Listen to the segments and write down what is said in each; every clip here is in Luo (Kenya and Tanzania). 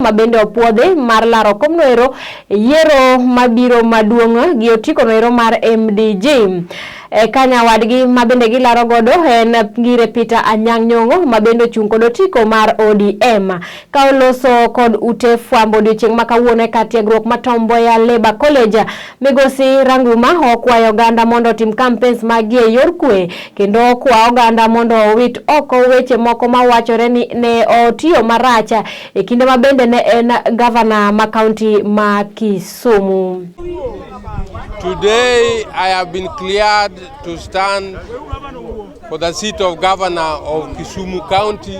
ma bende opuodhi mar laro kom noero yiero mabiro maduong' gi otiko noero mar MDG. E ka nyawadgi ma bende gilaro godo en ngire Peter Anyang' Nyong'o ma bende ochung' kod otiko mar ODM. Ka oloso kod ute fwambo odiochieng' ma kawuono e kar tiegruok ma Tomboya Labour College Migosi Ranguma okwayo oganda mondo otim kampens maggi e yor kwe kendo okwa oganda mondo owit oko weche moko mawachore ni ne otiyo marach e kinde ma bende ne en gavana ma kaunti ma Kisumu. Today I have been cleared to stand for the seat of governor of Kisumu County.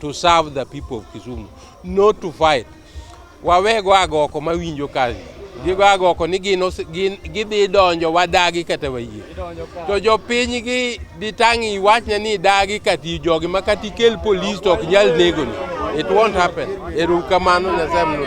to serve the people of Kisumu, not to fight. Wawego agoko mawinjo kazi gigo agoko ni gino gidhi donjo wadagi kata wayie to jopiny gi ditang' iwachne ni idagi kati jogi ma kati kel polis to ok nyal negoni it won't happen erukamano nyasaye mno